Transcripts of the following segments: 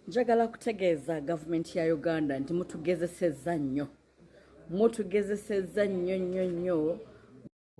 njagala kutegeeza gavumenti ya uganda nti mutugezesezza nnyo mutugezesezza nnyo nnyo nnyo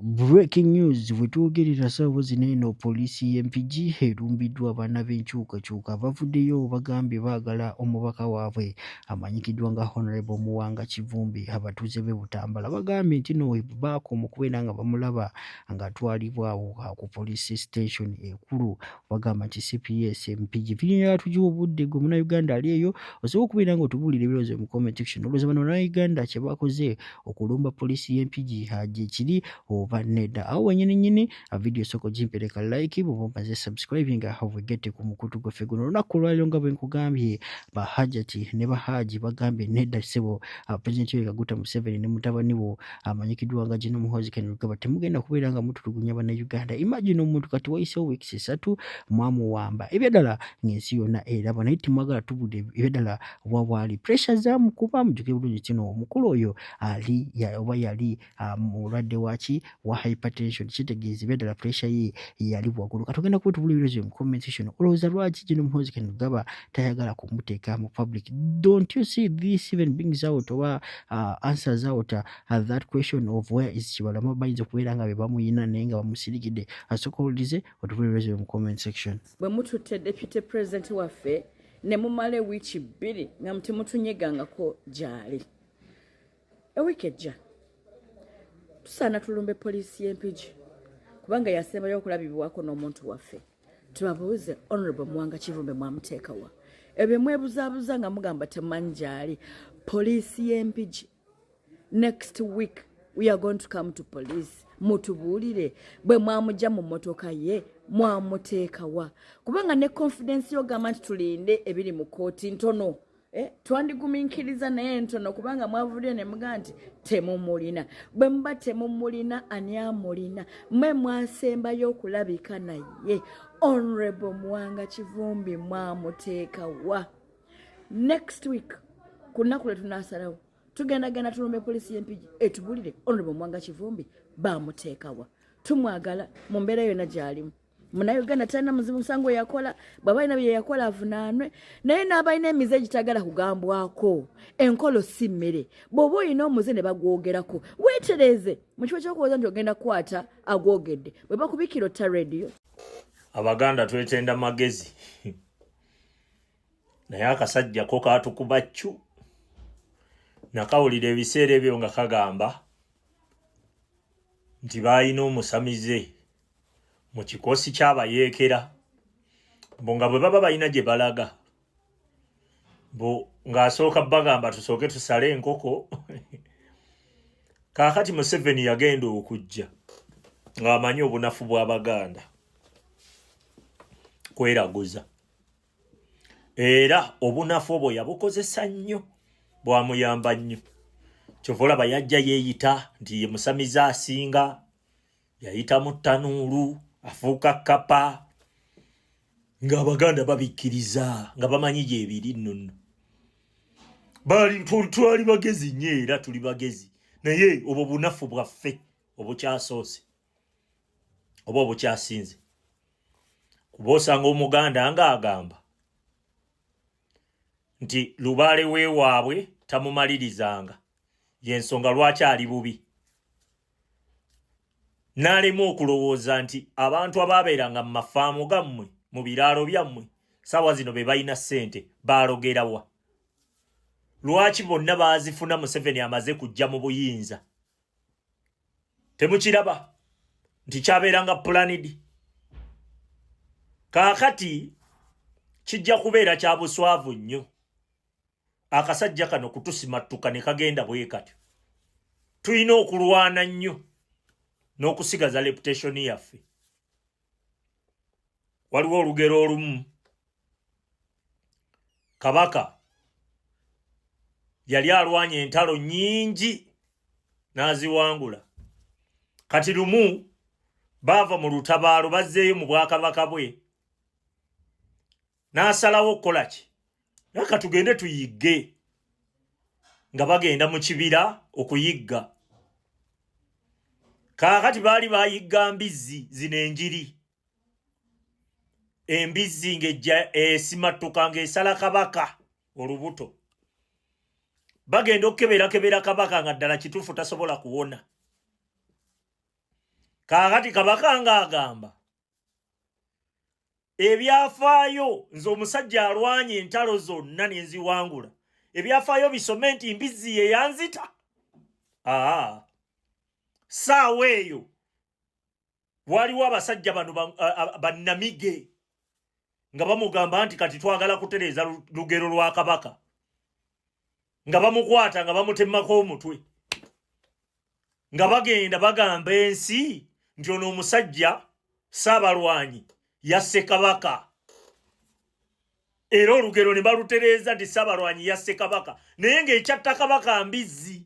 Breaking news wetwogerera saawa zino eno poliisi y'e Mpigi erumbiddwa abaana b'enkyukakyuka abavuddeyo bagambye baagala omubaka waabwe amanyikiddwa nga Honorable Muwanga Kivumbi abatuuze b'e Butambala bagambye nti no baakoma okubeera nga bamulaba ng'atwalibwa awo ku poliisi station ekulu wagamba nti cps mpigi vinyonyo yatugiwa obudde gwe munauganda ali eyo osobola okubeera nga otubuulira ebirowoozo mu comment section olowooza bano banauganda kye bakoze okulumba poliisi y'empigi haje kiri oba nedda awo wenyini nyini vidiyo sooka ogimpereka like bwoba omaze subscribe nga havegete ku mukutu gwaffe guno olunaku olwaliro nga bwe nkugambye bahajati ne bahaaji bagambye nedda ssebo pulezidenti yoyekaguta museveni ne mutabani wo amanyikiddwa nga Gino Muhoozi Ken Lugaba temugenda kubeera nga mutulugunya bannayuganda imagine omuntu kati wayisewo weeks esatu mwamuwamba ebyaddala ng'ensi yonna eraba naye temwagala tubudde ebyaddala wawaali pressure zamukuba mujuke bulungi kino omukulu oyo ali oba yali ah, mulwadde waki wa hypertension kitegeeza ebyaddala pressure ye yali waggulu katugenda kuba tubula ebirozo mu comment section olowooza lwaki Gino Muhoozi Ken Lugaba tayagala kumuteeka mu public don't you see this even brings out oba uh, answers out uh, that question of where is kibalama bayinza okubeera nga bebamuyina naye nga bamusirikidde asooka owulirize otubulirezo mu comment section bwe mututte deputy president waffe ne mumala ewiiki bbiri nga mutemutunyegangako gyali ewiiki ejja tusaana tulumbe poliisi y'empigi kubanga yasembayo okulabibwako n'omuntu waffe tubabuuze honorable muwanga kivumbe mwamuteekawa ebyo mwebuzabuza nga mugamba temanyi gyali poliisi y'empigi next week we are going to come to police mutubuulire bwe mwamugya mu motoka ye mwamuteekawa kubanga ne confidence yogamba nti tulinde ebiri mu kooti ntono Eh, twandiguminkiriza naye ntono kubanga mwavudde ne muga nti temumulina bwe muba temumulina ani amulina mwe mwasembayo okulabika naye onrebo muwanga kivumbi mwamuteeka wa next week ku nnaku lwe tunasalawo tugendagenda tulumbe poliisi y'empigi etubulire onrebo muwanga kivumbi bamuteekawa tumwagala mu mbeera yonna gy'alimu munauganda talina muzibu musango yakola bwaba alina byeyakola avunaanwe naye n'abalina emize egitagala kugambwako enkolo si mmere bw'oba olina omuze ne bagwogerako weetereeze mu kifo kyokuwooza nti ogenda kukwata agwogedde bwe bakubikira otta rediyo abaganda twetenda magezi naye akasajja ko kaatukuba ccu nakawulira ebiseera ebyo nga kagamba nti baalina omusamize mu kikoosi ky'abayeekera mbu nga bwe baba balina gye balaga mbu ng'asooka bagamba tusooke tusale enkoko kaakati museveni yagenda okujja ng'amanyi obunafu bw'abaganda kweraguza era obunafu obwo yabukozesa nnyo bwamuyamba nnyo kyova olaba yajja yeeyita nti ye musamize asinga yayita mu ttanuulu afuuka kkapa ng'abaganda babikkiriza nga bamanyi gyebiri nno nno baali twali bagezi nnyo era tuli bagezi naye obwo bunafu bwaffe obukyasoose oba obukyasinze kuba osanga omuganda nga agamba nti lubaale wewaabwe tamumalirizanga yensonga lwaki ali bubi n'alema okulowooza nti abantu abaabeeranga mu mafaamu gammwe mu biraalo byammwe saawa zino be balina ssente baalogerawa lwaki bonna baazifuna museveni amaze kujja mu buyinza temukiraba nti kyabeeranga pulanidi kaakati kijja kubeera kya buswavu nnyo akasajja kano kutusimattuka ne kagenda bwe katyo tulina okulwana nnyo n'okusigaza reputationi yaffe waliwo olugero olumu kabaka yali alwanye entalo nyingi n'aziwangula kati lumu baava mu lutabaalo bazzeeyo mu bwakabaka bwe n'asalawo okukola ki aka tugende tuyigge nga bagenda mu kibira okuyigga kaakati baali bayigga mbizzi zino enjiri embizzi ng'ejja esimattuka ng'esala kabaka olubuto bagenda okukeberakebera kabaka nga ddala kituufu tasobola kuwona kaakati kabaka ng'agamba ebyafaayo nze omusajja alwanye entalo zonna nenziwangula ebyafaayo bisome nti mbizzi ye yanzita aa saawa eyo waliwo abasajja bano bannamige ba, ba, nga bamugamba nti kati twagala kutereeza lugero lwa kabaka nga bamukwata nga bamutemako omutwe nga bagenda bagamba ensi nti ono omusajja saabalwanyi yasse kabaka era olugero ne balutereeza nti saabalwanyi yasse kabaka naye ng'ekyatta kabaka mbizzi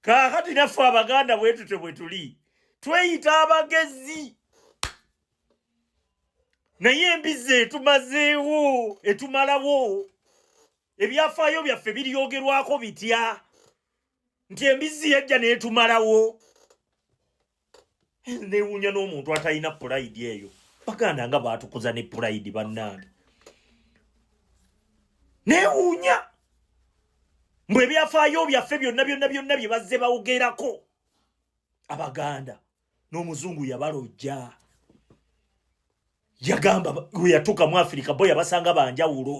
kaakati naffe abaganda bwetute bwe tuli tweyita abagezi naye embizzi etumazeewo etumalawo ebyafaayo byaffe biryogerwako bitya nti embizzi yajja neetumalawo newuunya n'omuntu atalina pulayidi eyo baganda nga baatukuza ne pulayidi bannange newuunya mbu ebyafaayo byaffe byonna byonna byonna bye bazze bawogerako abaganda n'omuzungu yabalojja yagamba weyatuuka mu afirika bo yabasanga banjawulo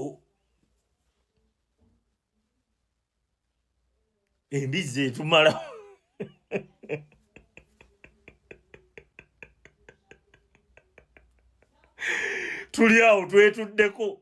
embizzi etumala tuli awo twetuddeko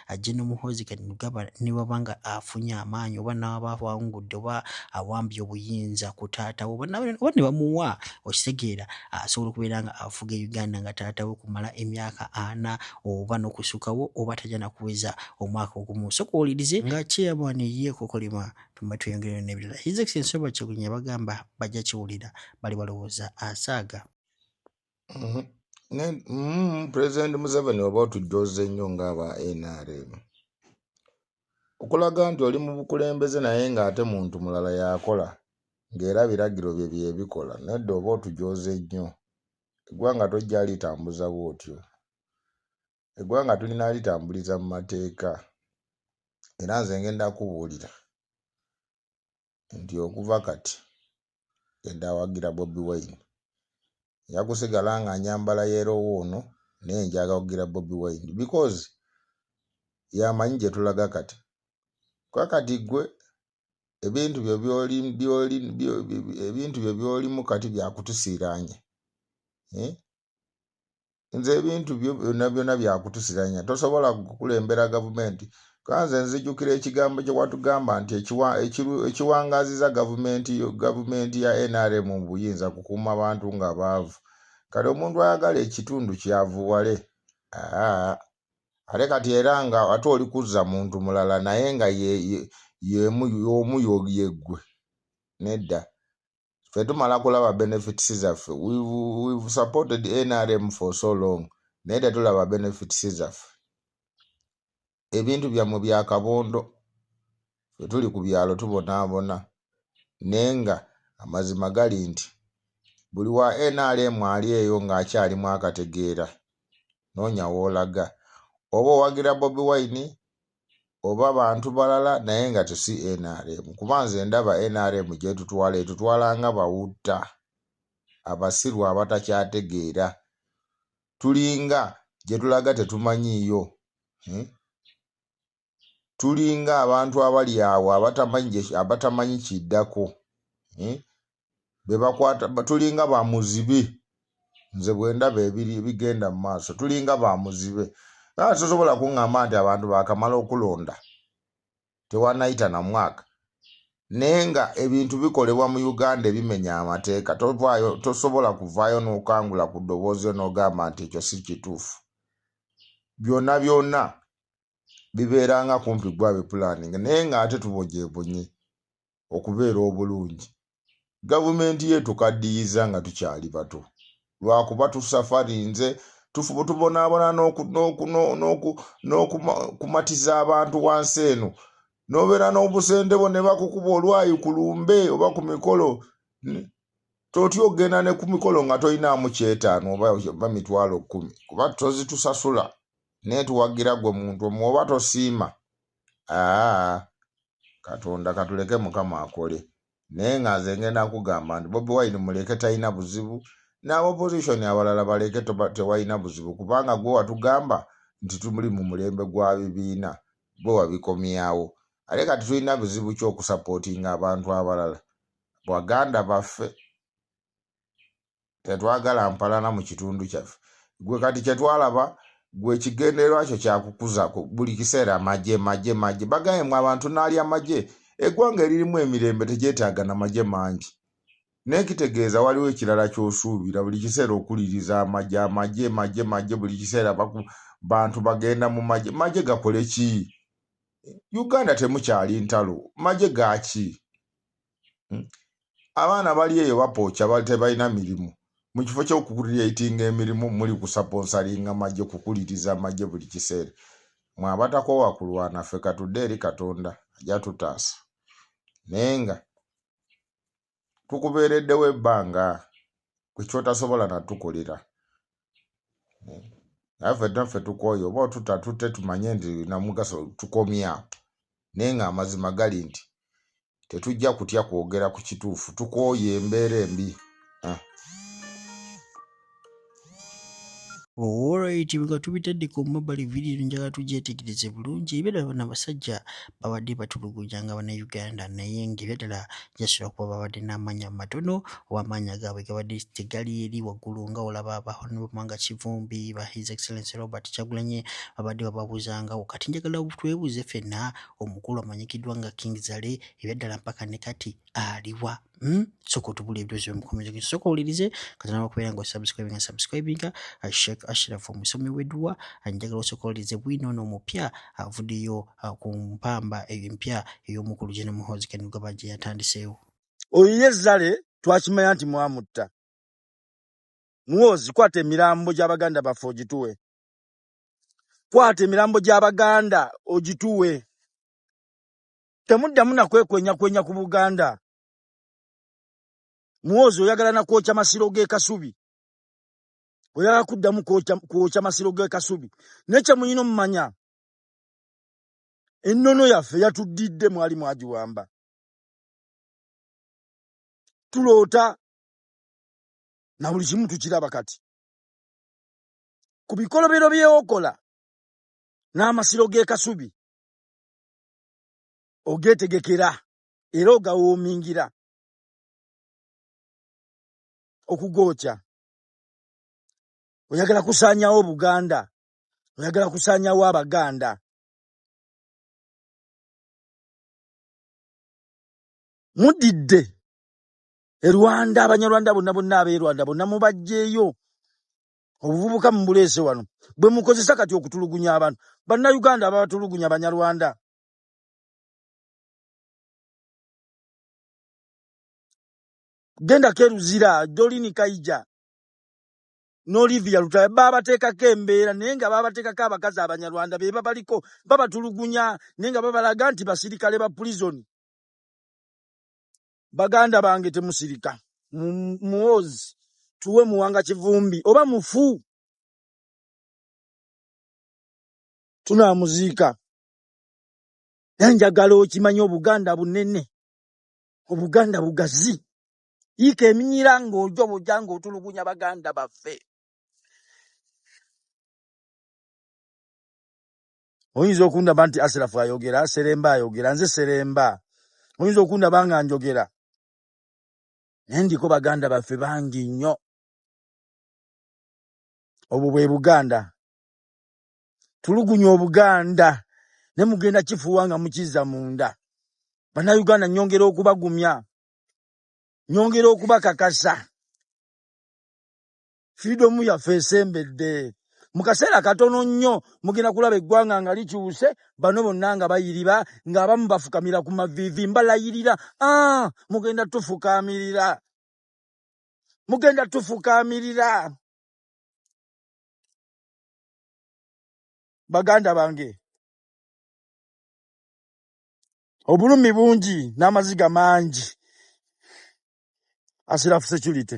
ajje ne muhoozi kanugaba ne baba nga afunye amaanyi oba n'aba awangudde oba awambye obuyinza ku taata we oba ne bamuwa okitegeera asobola okubeera nga afuga e uganda nga taata we kumala emyaka ana oba n'okusukawo oba tajja nakuweza omwaka ogumu soka owulirize nga kyeyabwana ye kokolima tumba tweyongerera n'ebirala his excellence oba kyegunya bagamba bajja kiwulira bali balowooza asaaga Mhm. Ne- mm, president museveni oba otujooze nnyo ng'aba nrm okulaga nti oli mu bukulembeze naye ng'ate muntu mulala yakola ng'era biragiro bye byebikola nedda oba otujooze nnyo eggwanga tojja litambuza bw'otyo eggwanga tulina litambuliza mu mateeka era nze ngenda kubuulira nti okuva kati yadde awagira Bobi Wine nja kusigala nga nyambala yerowo ono naye njaga kugira Bobi Wine because yamanyi gye tulaga kati kuba kati gwe ebintu byo byoli byoli ebintu byo byolimu kati byakutusiiraanya eh? nze ebintu byo byonna byonna byakutusiranya tosobola kukulembera gavumenti kuba nze nzijukira ekigambo kye watugamba nti ekiwa- ekiru- ekiwangaaziza gavumenti yo- gavumenti ya nrm mu buyinza kukuuma bantu nga baavu kati omuntu ayagala ekitundu kyavuwale aa, ate kati era nga ate oli kuzza muntu mulala naye nga ye- ye- y'emu y'omu yo- yeggwe nedda ffe tumala kulaba benefits zaffe we've supported nrm for so long naye tetulaba benefits zaffe ebintu byammwe bya kabondo ffe tuli ku byalo tubonaabona naye nga amazima gali nti buli wa nrm ali eyo ng'akyalimu akategeera noonya woolaga oba owagira bobi wine oba bantu balala naye nga tesi nrm kuba nze ndaba nrm gyetutwala etutwala nga bawutta abasiru abatakyategeera tulinga gyetulaga tetumanyiiyo hmm? tulinga abantu abali awo abatamanyi kiddako hmm? bebakwata tulinga ba muzibe nze bwendaba ebiri ebigenda mu maaso tulinga ba muzibe aa sosobola kuŋŋamba nti abantu baakamala okulonda tewanayita na mwaka naye nga ebintu bikolebwa mu uganda ebimenya amateeka tovaayo tosobola kuvaayo n'okangula ku ddoboozi yo n'ogamba nti ekyo si kituufu byonna byonna bibeeranga kumpi gwabe pulaninga naye ng'ate tubogyebunye okubeera obulungi gavumenti ye tukaddiyiza nga tukyali bato lwakuba tusafarinze tufuba tubonaabona n'okumatiza abantu wansi eno n'obeera n'obusente bwo ne bakukuba olwayi ku lumbe oba ku mikolo totya okugenda ne ku mikolo nga tolinaamu kyetaano oba mitwalo kkumi kuba tozitusasula naye tuwagira gwe muntu omu oba tosiima aa katonda katuleke mukama akole naye nga nze ngenda kugamba nti bobi wine muleke talina buzibu naaba opposition abalala baleke tewalina buzibu kubanga gwe watugamba nti tumuli mu mulembe gwa bibiina gwe wabikomyawo ate kati tulina buzibu kyokusapootinga abantu abalala baganda baffe tetwagala mpalana mu kitundu kyaffe gwe kati kyetwalaba gwe kigendererwa kyo kyakukuza buli kiseera maje maje maje bagaye mwe abantu naali amaje eggwanga eririmu emirembe tegyetaaga na maje mangi naye kitegeeza waliwo ekirala kyosuubira buli kiseera okuliriza amaje amaje maje maje buli kiseera bantu bagenda mu maje maje gakole ki uganda temukyali ntalo maje gaki Hmm? abaana bali eyo bapooca tebalina mirimu mu kifo kyokukuliratinga emirimu muli kusaponsalinga magye kukuliriza magye buli kiseera mwabatako wakulwana ffe katudde eri katonda ajja tutaasa naye nga tukubeereddewo ebbanga kwekyotasobola natukolera hmm? naye ffe naffe tukooye oba otuta tute tumanye nti namugaso tukomyawo naye nga amazima gali nti tetujja kutya kwogera ku kituufu tukooye embeera embi ah. Alright, nga tubitadde ku mobile video njagala tugyetegereze bulungi ebera bana basajja babadde batulugunya nga bana Uganda naye ng'ebya ddala gyasula kuba babadde n'amaanya matono oba amaanya gaabwe gabadde tegali eri waggulu nga olaba ba Honorable Mwanga Kivumbi ba His Excellency Robert Kyagulanyi babadde bababuuza nga kati njagala twebuuze fenna omukulu amanyikiddwa nga King Zale ebyaddala mpaka ne kati aliwa hmm? soka otubula ebidozi omukomeza gen soka owulirize katonda wakubeera nga osubscribinga subscribinga uh, shek ashraf omusomi weduwa anjagala uh, osoka owulirize bwino ono omupya avudeyo uh, ku mpamba eyo empya ey'omukulu geno muhozi kenugaba gye yatandiseewo oyo ye zale twakimanya nti mwamutta muwozi kwata emirambo gy'abaganda baffe ogituwe kwata emirambo gy'Abaganda ogituwe. Temuddamu na kwekwenyakwenya ku Buganda. Muwoozi oyagala na kwokya masiro g'e Kasubi. Oyagala kuddamu kwokya kwokya masiro g'e Kasubi. Naye kye mulina omumanya, ennono yaffe yatuddidde mwali mwagiwamba. Tuloota na buli kimu tukiraba kati. ku bikolobero byewokola n'amasiro g'e Kasubi ogeetegekera era ogawoomingira okugookya oyagala kusaanyawo Buganda oyagala kusaanyawo Abaganda mudidde e Rwanda abanyarwanda bonna bonna ab'e Rwanda bonna mubajjeeyo obuvubuka mumuleese wano bwe mukozesa kati okutulugunya abantu bannayuganda ababatulugunya banyarwanda genda keruzira dolini kaija n'olivia lutaya baabateekako embeera naye nga baabateekako abakazi abanyarwanda be babaliko babatulugunya naye nga babalaga nti basirikale ba pulizoni baganda bange temusirika muwozi tuwe muwanga kivumbi oba mufu tunamuziika naye njagala okimanya obuganda bunene obuganda bugazi yiika eminyira ng'ojo boja ng'otulugunya baganda baffe oyinza okundaba nti asirafu ayogera seremba ayogera nze seremba oyinza okundaba nga njogera naye ndiko baganda baffe bangi nnyo obwo bwe buganda tulugunya obuganda ne mugenda kifuuwa nga mukizza munda bannayuganda nyongera okubagumya nyongera okubakakasa freedom yaffe esembedde mu kaseera katono nnyo mugenda kulaba eggwanga nga likyuse bano bonna nga bayiriba ng'abamu bafukamira ku maviivi mbalayirira ah, mugenda tufukamirira mugenda tufukamirira baganda bange obulumi bungi n'amaziga mangi asirafu security